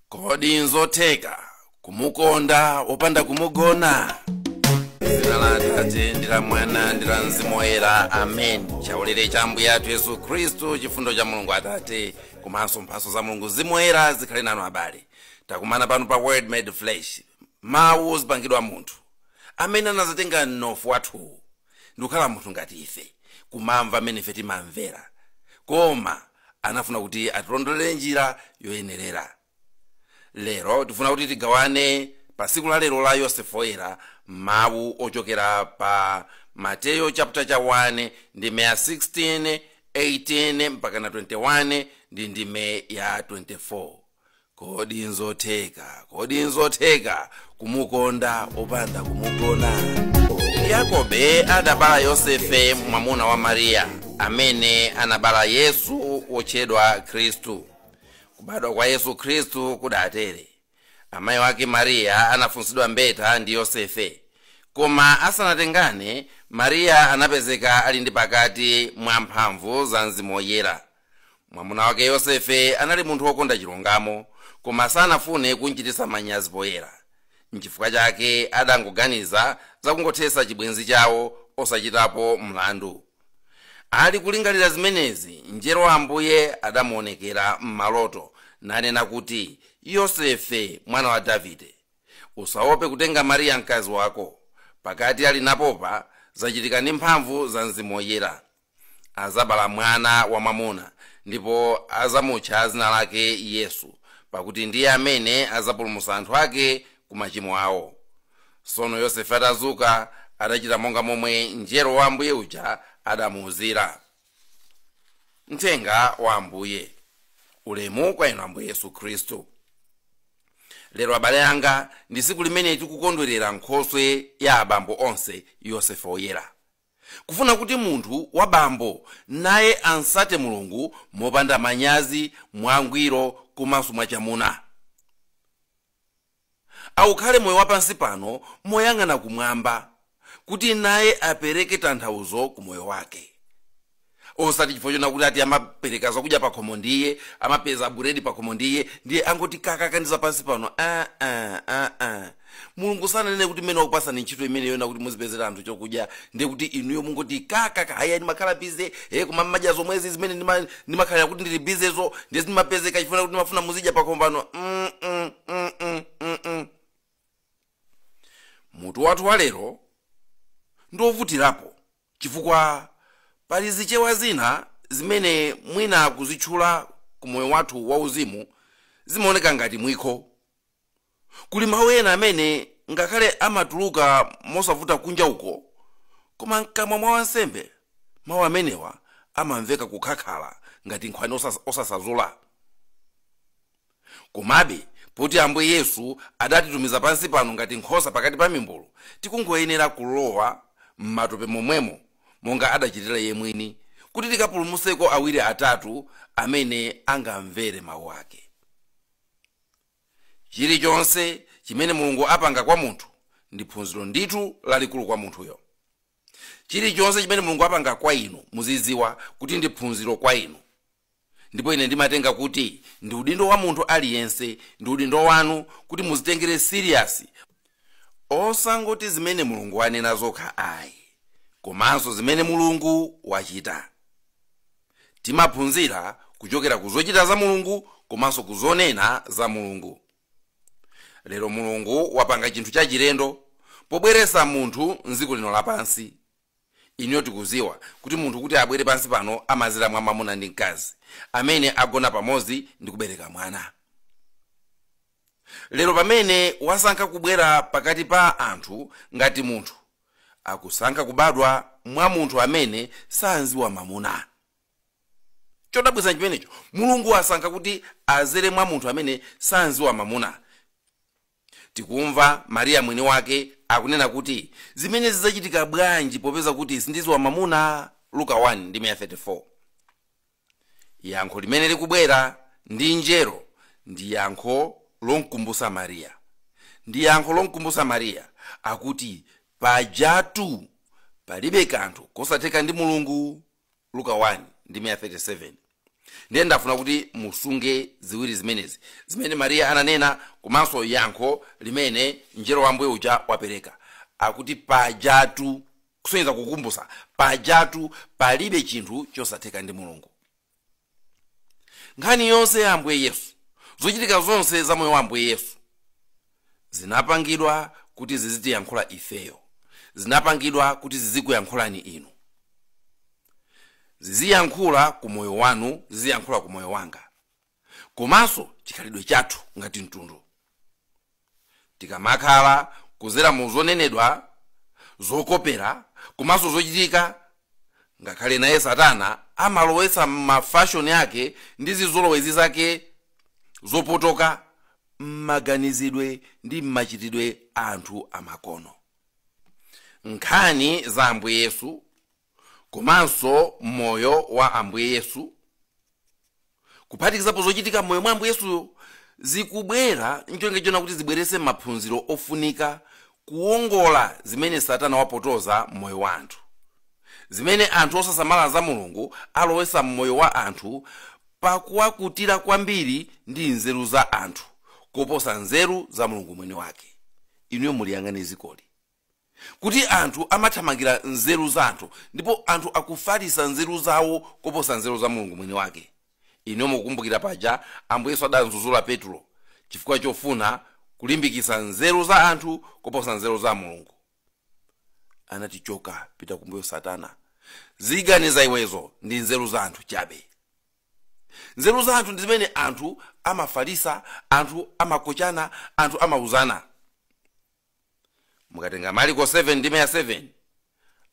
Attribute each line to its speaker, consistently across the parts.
Speaker 1: kodi nzotheka kumukonda opanda kumugona dzina la atate ndi la mwana ndi la mzimu woyera amen chaulere cha ambuye athu yesu khristu chifundo cha mulungu atate komanso mphaso za mulungu mzimu woyera zikhale nanu abale takumana pano pa word made flesh mawu ozipangidwa munthu amene anazatenga mnofu wathuwu ndikukhala munthu ngati ife kumamva amene ife timamvera koma anafuna kuti atilondolere njira yoyenerera lero tifuna kuti tigawane pa tsiku la lero la yosefe woyera mawu ochokera pa mateyo chapter cha 1 ndime ya 16 18 mpaka na 21 ndi ndime ya 24 kodi nzotheka kodi nzotheka kumukonda opanda kumugona yakobe adabala yosefe mwamuna wa mariya amene anabala yesu wotchedwa khristu kubadwa kwa yesu khristu kudatere amayi wake mariya anafunsidwa mbeta ndi yosefe koma asanatengane mariya anapezeka ali ndi pakati mwa mphamvu za mzimu woyera mwamuna wake yosefe anali munthu wokonda chilungamo koma sanafune kumchititsa manyazi poyera nchifukwa chake adangoganiza zakungothetsa chibwenzi chawo osachitapo mlandu ali kulingalira zimenezi mngelo wa ambuye adamuonekera m'maloto nanena kuti yosefe mwana wa davide usaope kutenga mariya mkazi wako pakati ali napopa zachitika ndi mphamvu za mzimu woyera azabala mwana wamwamuna ndipo azamutcha zina lake yesu pakuti ndiye amene azapulumusa anthu ake ku machimo awo sono yosefe atazuka adachita monga momwe mngelo wa ambuye uja adamuuzira mthenga wa ambuye ulemu kwa inu ambuye yesu khristu lero abale anga ndi tsiku limene tikukondwerera nkhoswe ya abambo onse yosefe woyera kufuna kuti munthu wa bambo naye amsate Mulungu mopanda manyazi, mwangwiro komanso mwachamuna. Aukhale moyo wa pansi pano moyang'ana kumwamba, kuti naye apereke tanthauzo ku moyo wake. osati chifukwa chona kuti ati amapereka zakudya pakhomo ndiye amapeza buredi pakhomo ndiye ndiye angoti kakaka ndi zapansi pano ah, ah, ah, ah. mulungu sananene kuti mmene wakupasani ntchito imene yona kuti muzipezera anthu chokudya ndiye kuti inuyo mungoti kakaka haya ndimakhala bize e koma mmadya zomwezi zimene ndima- ndimakhalira kuti ndili bizezo ndiye zimapezeka chifukwa kuti ndimafuna muzidya pakhomo pano mm, mm, mm, mm, mm, mm. mutu wathu walero ndiovutirapo Chifukwa pali zichewa zina zimene mwina kuzitchula ku moyo wathu wa uzimu zimaoneka ngati mwikho. Kuli mau ena amene ngakhale amatuluka mosavuta kunja uko, koma mkamwa mwa wansembe mau amenewa amamveka kukhakhala ngati nkhwani osasazula. Komabe, poti Ambuye Yesu adatitumiza pansi pano ngati nkhosa pakati pa mimbulu, tikungoyenera kulowa m'matope momwemo monga adachitira Iye mwini, kuti tikapulumutseko awiri atatu amene angamvere mau ake. Chilichonse chimene Mulungu apanga kwa munthu ndi phunziro ndithu lalikulu kwa munthuyo. Chilichonse chimene Mulungu apanga kwa inu muziziwa kuti ndi phunziro kwa inu. ndipo ine ndimatenga kuti ndi udindo wa munthu aliyense ndi udindo wanu kuti muzitengere serious osangoti zimene mulungu wanena zokha ayi komanso zimene mulungu wachita timaphunzira kuchokera ku zochita za mulungu komanso ku zonena za mulungu lero mulungu wapanga chinthu chachilendo pobweretsa munthu mdziko lino lapansi Inuyo tikuziwa kuti munthu kuti abwere pansi pano amazera mwa mamuna ndi mkazi amene agona pamodzi ndi kubereka mwana. Lero pamene wasankha kubwera pakati pa anthu ngati munthu, akusankha kubadwa mwa munthu amene sanziwa mamuna. Chodabwitsa nchimenecho, Mulungu asankha kuti azere mwa munthu amene sanziwa mamuna. Tikumva Maria mwini wake akunena kuti, Zimene zidzachitika bwanji popeza kuti sindiziwa mamuna? Luka 1 ndime ya 34. Yankho limene likubwera ndi mngelo ndi yankho lomkumbusa Maria. Ndi yankho lomkumbusa Maria, akuti, Pajatu palibe kanthu kosatheka ndi Mulungu. luka 1 ndime ya 37 ndiye ndafuna kuti musunge ziwiri zimenezi zimene mariya ananena komanso yankho limene mngelo wa ambuye uja wapereka akuti pajatu kusonyeza kukumbusa pajatu palibe chinthu chosatheka ndi mulungu nkhani yonse ya ambuye yesu zochitika zonse za moyo wa ambuye yesu zinapangidwa kuti zizitiyankhula ifeyo zinapangidwa kuti zizikuyankhulani inu ziziyankhula ku moyo wanu ziziyankhula ku moyo wanga komanso chikhalidwe chathu ngati mtundu tikamakhala kuzera mu zonenedwa zokopera komanso zochitika ngakhale naye satana amalowetsa mafashoni ake ndi zizolowezi zake zopotoka m'maganizidwe ndi m'machitidwe a anthu amakono nkhani za ambuye yesu komanso moyo wa ambuye yesu kuphatikizapo zochitika m'moyo mwa ambuye yesuyo zikubwera ncholinga chonena kuti zibweretse maphunziro ofunika kuwongola zimene satana wapotoza m'moyo wa anthu zimene anthu osasamala za mulungu alowesa mmoyo wa anthu pakuwakutira kwambiri ndi nzeru za anthu koposa nzeru za mulungu mwini wake inuyo muliyang'ane dzikoli kuti anthu amathamangira nzeru za anthu ndipo anthu akufalitsa nzeru zawo koposa nzeru za mulungu mwini wake inuyo mukukumbukira paja ambuye yesu adamdzudzula petulo chifukwa chofuna kulimbikitsa nzeru za anthu koposa nzeru za mulungu anati choka pita kumbuyo satana ziganizo za iwezo ndi nzeru za anthu chabe nzeru za anthu ndi zimene anthu amafalisa anthu amakochana anthu amauzana mukatenga mariko 7 ndime ya 7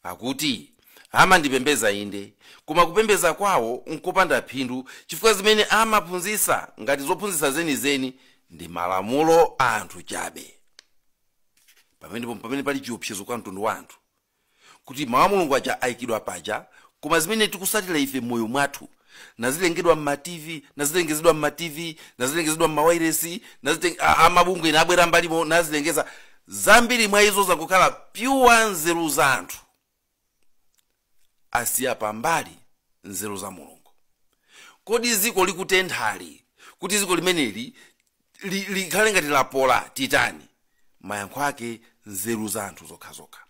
Speaker 1: akuti amandipembeza inde koma kupembeza kwawo nkopanda phindu chifukwa zimene amaphunzitsa ngati zophunzitsa zenizeni ndi malamulo a anthu chabe pamenepo pamene pali chiopsezo kwa mtundu wa anthu kuti mawu a mulungu aja ayikidwa paja koma zimene tikutsatira ife m'moyo mwathu nazilengedwa mma tv nazilengezedwa mma tv nazilengezedwa mma wairesi naziteng- a- amabungwe ena abwera mbalimo nazilengeza zambiri mwa izo zangokhala pyuwa nzeru za anthu asiya pambali nzeru za mulungu kodi dziko likutenthali kuti dziko limeneli li- likhale ngati lapola titani mayankho ake nzeru za anthu zokhazokha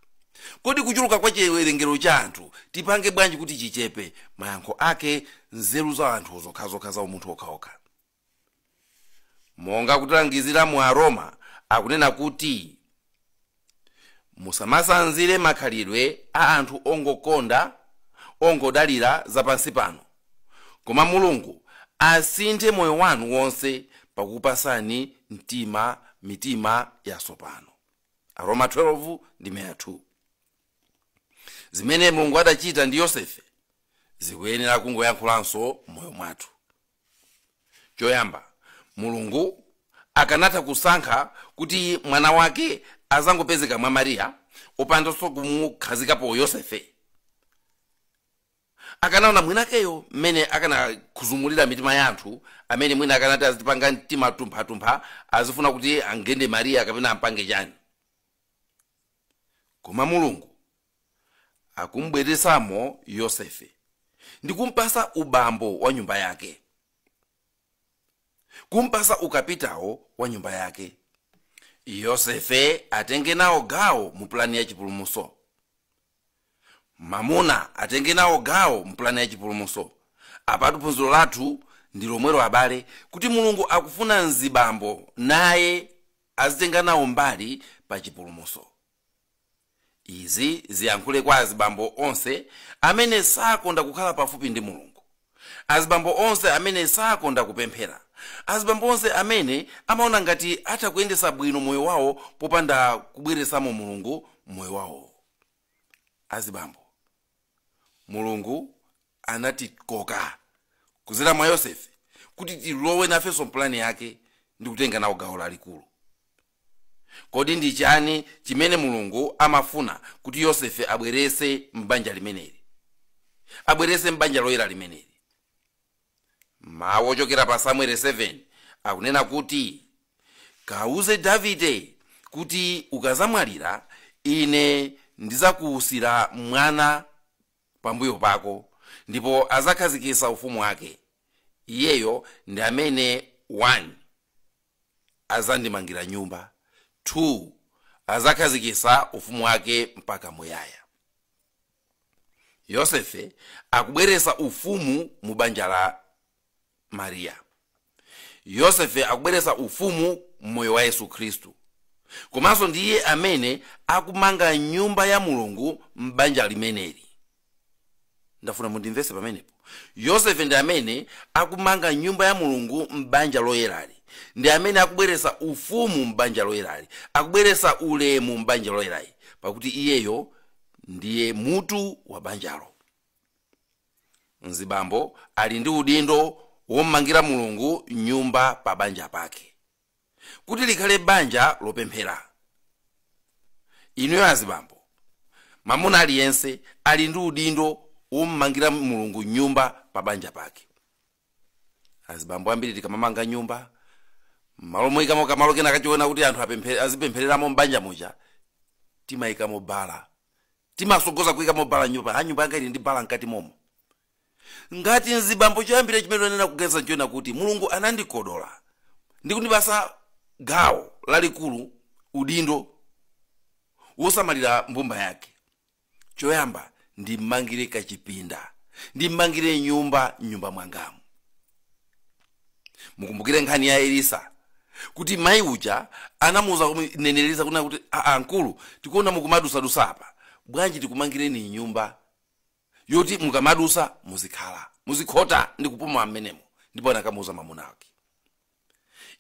Speaker 1: kodi kuchuluka kwa chiwerengero cha anthu tipange bwanji kuti chichepe mayankho ake nzeru za anthu zokhazokha za umunthu wokhawokha monga kutilangizira mu aroma akunena kuti Musamatsanzire makhalidwe a anthu ongokonda, ongodalira za pansi pano. Koma Mulungu asinthe moyo wanu wonse pakupatsani mtima, mitima yatsopano. Aroma 12 ndime ya 2. Zimene Mulungu adachita ndi Yosefe zikuyenera kungoyankhulanso m'moyo mwathu. choyamba mulungu akanatha kusankha kuti mwana wake azangopezeka mwa mariya opandanso kumukhazikapo yosefe akanaona mwinakeyo mmene akanakhuzumulira mitima ya anthu amene mwina akanati azitipanga mtima tumphatumpha azifuna kuti angende mariya kapena ampange chani koma mulungu akumubweretsamo yosefe ndi kumpasa ubambo wa nyumba yake kumpasa ukapitawo wa nyumba yake yosefe atenge nawo gawo mu pulani ya chipulumuso mamuna atenge nawo gawo mu pulani ya chipulumuso apatu phunziro lathu ndi lomwelo abale kuti mulungu akufuna mzibambo naye azitenga nawo mbali pa chipulumuso izi ziyankhule kwa azibambo onse amene sakonda kukhala pafupi ndi mulungu azibambo onse amene sakonda kupemphera azibambo onse amene amaona ngati atha kuyendesa bwino moyo wawo popanda kubweresamo mulungu m'moyo wawo azibambo mulungu anatikoka kuzera mwa yosefe kuti tilowe nafenso mpulani yake ndi kutenga nawo gawo lalikulu kodi ndi chani chimene mulungu amafuna kuti yosefe abwerese m'banja limeneli abwerese m'banja loyera limeneli mawu ochokera pa samueli 7 akunena kuti kawuze davide kuti ukazamwalira ine ndizakuwusira mwana pambuyo pako ndipo azakhazikisa ufumu wake iyeyo ndi amene 1 azandimangira nyumba, 2 adzakhazikitsa ufumu wake mpaka muyaya. Yosefe akubweretsa ufumu mu banja la Mariya. Yosefe akubweretsa ufumu m'moyo wa Yesu Khristu. Komanso ndi iye amene akumanga nyumba ya Mulungu m'banja limeneli. ndafuna mundimvetse pamenepo yosefe ndi amene akumanga nyumba ya mulungu m'banja loyerali ndi amene akubweretsa ufumu m'banja loyerali akubweretsa ulemu m'banja loyerali pakuti iyeyo ndiye mutu wa banjalo mzibambo ali ndi udindo wommangira mulungu nyumba pa banja pake kuti likhale banja lopemphera inuyo azibambo mamuna aliyense ali ndi udindo wommangira mulungu nyumba pa banja pake azibambo ambiri tikamamanga nyumba mmalo moyikamo kamalo kena kachiona kuti anthu apemphe- azipemphereramo mbanja muja timayikamo bala timasogoza kuyikamo bala m'nyumba ha nyumba yanga ili ndi bala mkati momo ngati mzibambo choyambira chimene amayenera kuganiza nchonena kuti mulungu anandikodola ndi kundipasa gawo lalikulu udindo wosamalira mbumba yake choyamba ndimmangire kachipinda ndimmangire nyumba mnyumba mwangamu mukumbukire nkhani ya elisa kuti mayi uja anamuuza mneneri Elisa kunena kuti aa mkulu tikuona mukumadusadusa apa bwanji tikumangireni nyumba yoti mukamadusa muzikhala muzikhota ndi kupuma mmenemo ndipo anakamuuza mamuna wake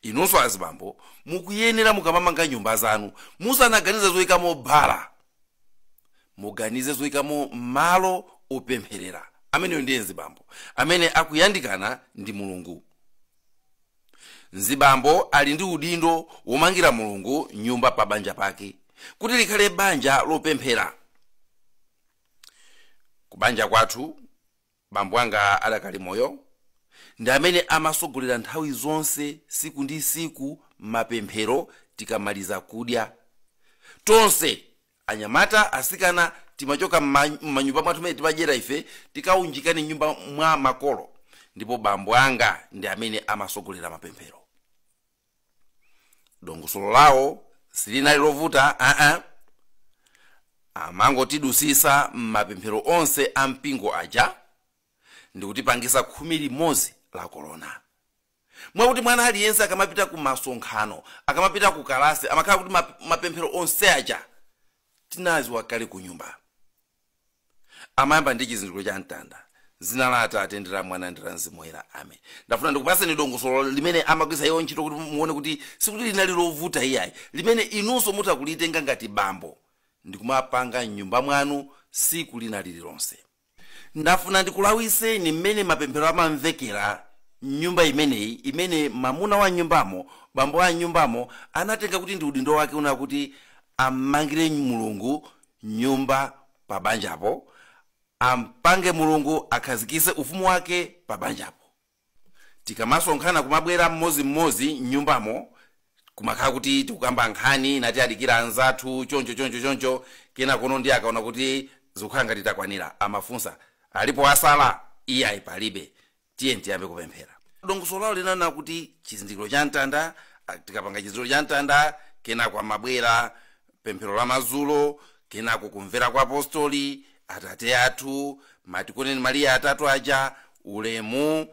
Speaker 1: inunso azibambo mukuyenera mukamamanga nyumba zanu musanaganize zoyikamo bala muganize zoyikamo malo opempherera ameneyo ndiye mzibambo amene akuyandikana ndi mulungu mzibambo ali ndi udindo womangira mulungu nyumba pa banja pake kuti likhale banja lopemphera kubanja kwathu bambo anga adakali moyo ndi amene amasogolera nthawi zonse siku ndi siku mapemphero tikamaliza kudya tonse anyamata asikana timachoka m'ma- m'manyumba mwathu mmene timadyera ife tikaunjikane mnyumba mwa makolo ndipo bambo anga ndi amene amasogolera mapemphero dongosolo lawo silinali lovuta aa amangotidusisa m'mapemphero onse a mpingo aja ndikutipangisa khumi limodzi la korona mwakuti mwana aliyense akamapita ku masonkhano akamapita ku kalasi amakhala kuti map- mapemphero onse aja tinaziwa kale ku nyumba amayamba ndi chizindikiro cha mtanda zina la atate ndi la mwana ndi la mzimu woyera amen ndafuna ndikupatseni dongosolo limene amagwiritsa iwo ntchito kuti muone kuti sikuti linali lovuta iyayi limene inunso mutha kulitenga ngati bambo ndikumapanga mnyumba mwanu siku lina lililonse ndafuna ndikulawiseni mmene mapemphero amamvekera mnyumba imeneyi imene mamuna wa nyumbamo bambo wa nyumbamo anatenga kuti ndi udindo wake kuona kuti ammangire mulungu nyumba pa banjapo ampange mulungu akhazikise ufumu wake pa banjapo tikamasonkhana kumabwera mmozi mmozi mnyumbamo kumakhala kuti tikukamba nkhani ngati tikudikira anzathu choncho choncho choncho kena kono ndiye akaona kuti zikukhala ngati takwanira amafunsa alipo asala iyayi palibe tiyeni tiyambe kupemphera dongosolo lawo linali lonena kuti chizindikiro cha mtanda ah, tikapanga chizindikiro cha mtanda kenako kumabwera pemphero la madzulo kenako kumvera kwa apostoli atate athu matikoneni mariya atatu aja ulemu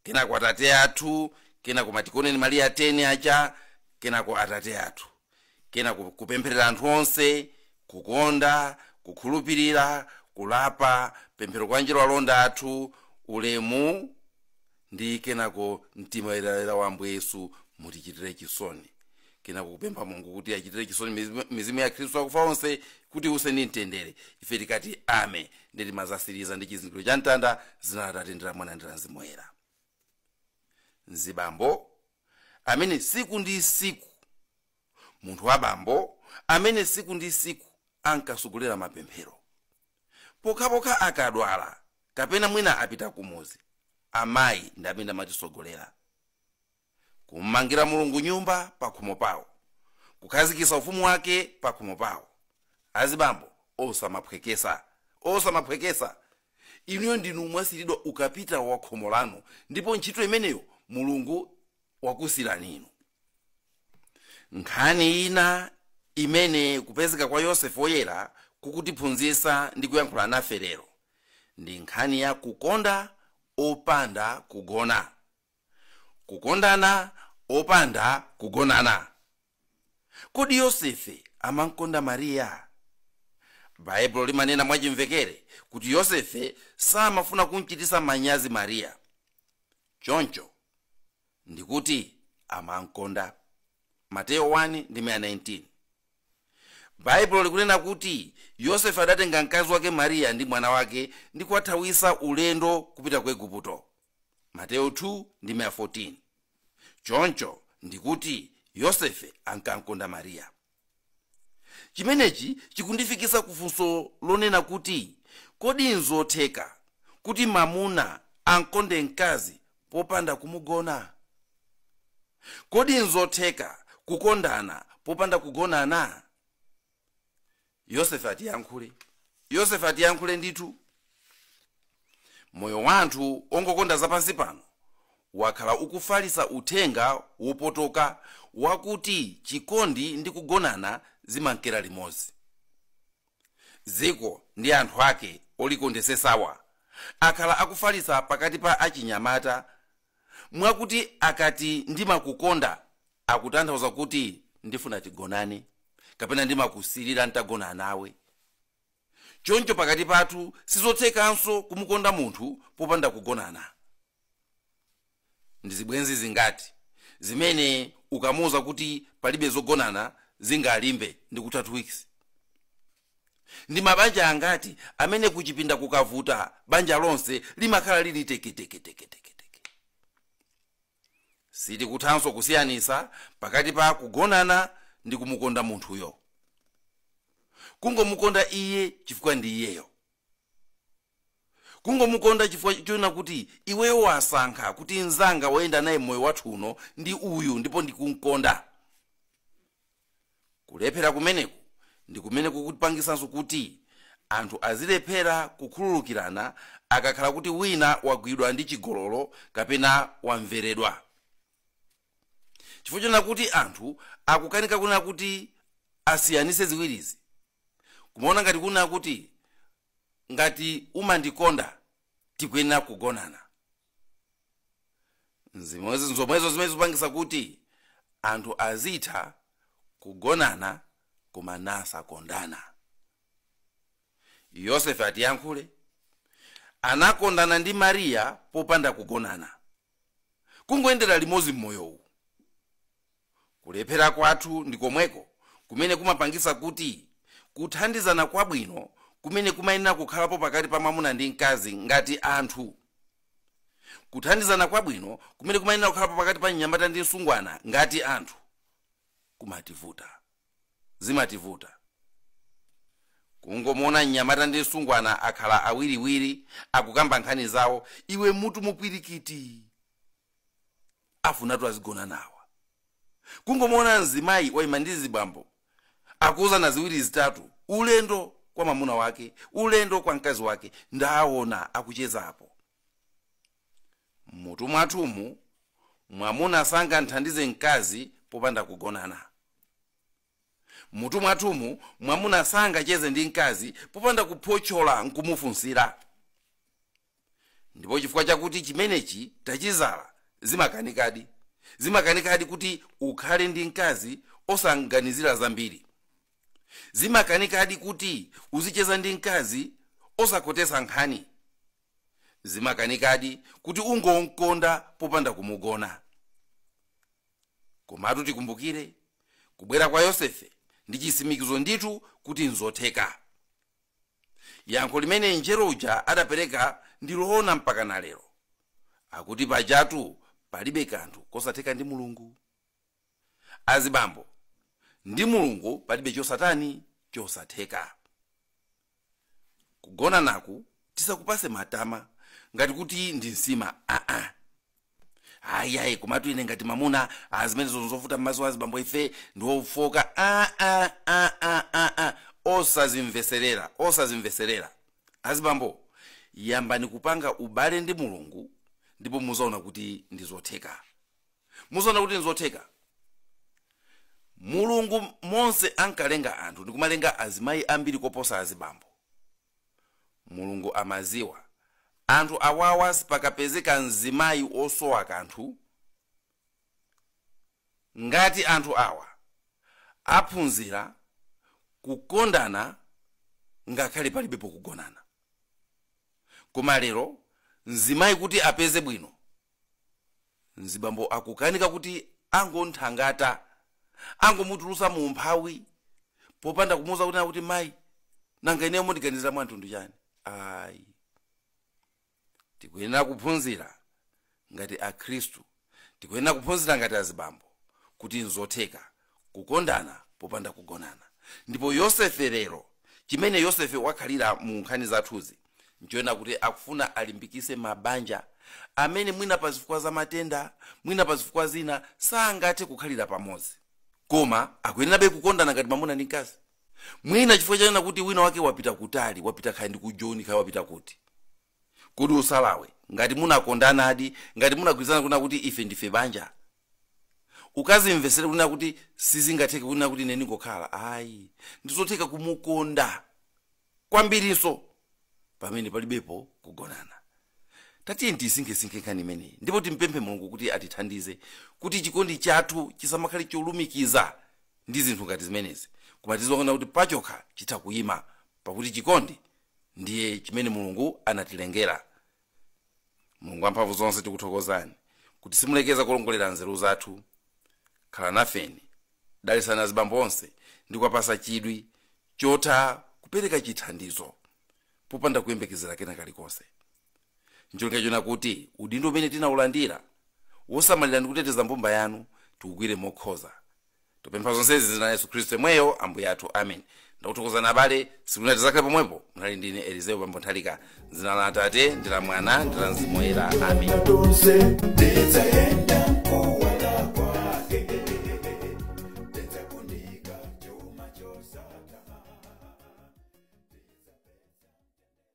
Speaker 1: kenako atate athu kenako matikoneni mariya 10 aja kenako atate athu kenako kupempherera anthu onse kukonda kukhulupirira kulapa pemphero kwa angelo alonda athu ulemu ndi kenako mtima woyerayera wa ambuye yesu mutichitire chisoni kenako kupempha mulungu kuti achitire chisoni mizimu- mizimu ya khristu akufa onse kuti iuse ndi mtendere ife tikati amen ndi timazatsiriza ndi chizindikiro cha mtanda zina la Atate ndi la mwana ndi la mzimu woyera mzibambo amene tsiku ndi tsiku munthu wa bambo amene tsiku ndi tsiku ankasogolera mapemphero pokhapokha akadwala kapena mwina apita kumuzi amayi ndi amene amatisogolera kum'mangira mulungu nyumba pakhomo pawo kukhazikitsa ufumu wake pakhomo pawo azibambo osamaphwekesa osamaphwekesa Inuyo ndinu mwasiiridwa ukapitawo wa khomo lanu, ndipo ntchito imeneyo Mulungu wakusiyirani inu. Nkhani ina imene kupezeka kwa Yosefe Woyera kukutiphunzitsa ndi kuyankhula nafe lero ndi nkhani ya kukonda opanda kugona. Kukondana opanda kugonana. Kodi Yosefe amam'konda Mariya? Baibulo limanena mwachimvekere kuti Yosefe samafuna kum'chititsa manyazi Mariya. Choncho, ndi kuti amam'konda. Mateyo 1 ndime ya 19. Baibulo likunena kuti Yosefe adatenga mkazi wake Mariya ndi mwana wake ndi kuwathawitsa ulendo kupita ku Igupto. mateyo 2 ndime ya 14 choncho ndikuti yosefe ankam'konda mariya chimenechi chikundifikisa ku funso lonena kuti kodi nzotheka kuti mamuna am'konde mkazi popanda kumugona kodi nzotheka kukondana popanda kugonana yosefe atiyankhule ndithu moyo wa anthu ongokonda zapansi pano wakhala ukufalisa uthenga wopotoka wakuti chikondi ndi kugonana zimankera limodzi dziko ndi anthu ake olikondesesawa akhala akufalisa pakati pa achinyamata mwakuti akati ndimakukonda akutanthauza kuti ndifuna tigonane kapena ndimakusirira ntagona nawe choncho pakati pathu sizothekanso kumukonda munthu popanda kugonana ndi zibwenzi zingati zimene ukamuuza kuti palibe zogonana zingalimbe ndi kutha 2 weeks Ndi mabanja angati amene kuchipinda kukavuta banja lonse limakhala lili teketeketeketeketeke. Sitikuthanso kusiyanitsa pakati pa kugonana ndi kumukonda munthuyo. Kungomukonda iye chifukwa ndi iyeyo. kungomukonda chifukwa choona kuti iweyo wasankha kuti mnzanga woyenda naye moyo wathu uno ndi uyu ndipo ndikumkonda kulephera kumeneku ndi kumene kukupangitsanso kuti anthu azilephera kukhululukirana akakhala kuti wina wagwidwa ndi chigololo kapena wamveredwa chifukwa chonena kuti anthu akukanika kunena kuti asiyanise ziwirizi kumaona ngati kunena kuti ngati umandikonda tikuyenera kugonana zimenezi nzomwezo zimene zikupangisa kuti anthu azitha kugonana koma nasakondana yosefe atiyankhule anakondana ndi mariya popanda kugonana kungoyendera limodzi m'moyowu kulephera kwathu ndi komweko kumene kumapangitsa kuti kuthandizana kwabwino kumene kumayenera kukhalapo pakati pa mwamuna ndi mkazi ngati anthu kuthandizana kwabwino kumene kumayenera kukhalapo pakati pa mnyamata ndi msungwana ngati anthu kumativuta zimativuta kungomuona mnyamata ndi msungwana akhala awiriwiri akukamba nkhani zawo iwe m'mutumu pwirikiti afunatu azigonana awa kungomuona mzimayi waima ndi mzibambo akuuzana ziwiri zitatu ulendo kwa mwamuna wake ulendo kwa mkazi wake ndawaona akuchezapo M'mutu mwathumu, mwamuna sangamthandize mkazi popanda kugonana. M'mutu mwathumu, mwamuna sangacheze ndi mkazi popanda kuphotchola nkumufunsira. Ndipo chifukwa chakuti chimenechi tachidzala, zimakanikadi. Zimakanikadi kuti ukhale ndi mkazi osamganizira zambiri. Zimakanikadi kuti uzicheza ndi mkazi osakhotetsa nkhani. zimakanikadi kuti ungomkonda popanda kumugona komatu tikumbukire kubwera kwa yosefe ndi chitsimikizo ndithu kuti nzotheka yankho limene mngelo uja adapereka ndi loona mpaka na lero akuti pajatu palibe kanthu kosatheka ndi mulungu azibambo ndi mulungu palibe chosatani chosatheka kugonanaku tisakupase matama ngati kuti ndi nsima aa ayayi komatu ine ngati mamuna azimayi osavuta m'maso a azibambo ife ndi ofoka aa aa aa osazimveserera osazimveserera azibambo yambani kupanga ubale ndi mulungu ndipo muzaona kuti ndi zotheka muzaona kuti nzotheka mulungu monse ankalenga anthu ndikumalenga azimayi ambiri koposa azibambo mulungu amaziwa anthu awawa sipakapezeka mzimayi osowa kanthu ngati anthu awa aphunzira kukondana ngakhale palibepo kugonana koma lero mzimayi kuti apeze bwino mzibambo akukanika kuti angomuthangata angomutulusa mu umphawi popanda kumuuza kunena kuti mayi nanga ineyo mundiganizira mwa mtundu chani ayi tikuyenera kuphunzira ngati akhristu tikuyenera kuphunzira ngati azibambo kuti nzotheka kukondana popanda kugonana ndipo yosefe lero chimene yosefe wakhalira mu nkhani zathuzi nchonena kuti akufuna alimbikise mabanja amene mwina pa zifukwa za matenda mwina pa zifukwa zina sangathe kukhalira pamodzi koma akuyenerabe kukondana ngati mamuna ndi mkazi mwina chifukwa chonena kuti wina wake wapita kutali wapita kaya ndi ku joni kaya wapita kuti kodi usalawe ngati munakondanadi ngati munagwirizana kunena kuti ife ndife banja usazimvesere kunena kuti sizingatheke kunena kuti ine ndingokhala ayi ndizotheka kumukonda kwambirinso pamene palibepo kugonana tatiyeni tisinkhesinkhe nkhani imeneyi ndipo timpemphe mulungu kuti atithandize kuti chikondi chathu chisamakhale cholumikiza ndi zinthu ngati zimenezi koma tiziona kuti pachokha chitha kuyima pakuti chikondi ndiye chimene mulungu anatilengera mulungu wamphamvu zonse tikuthokozani kuti simulekeza kulongolera nzeru zathu khala nafeni dalitsani azibambo onse ndi kuwapasa chidwi chotha kupereka chithandizo popanda kuyembekezera kena kalikonse ncholinga chonena kuti udindo umene tinaulandira wosamalira ndi kuteteza mbumba yanu tiugwire mokhoza tipempha zonsezi m'dzina la yesu khristu yemweyo ambuye athu amen ndakuthokozani abale siku lina tizakhale pomwepo munali ndine elizeo pambo nthalika m'dzina la atate ndi la mwana ndi la mzimu woyera amen Tonse, ndidzaenda kuwala kwake. Ndidzakunika chuma chosatha.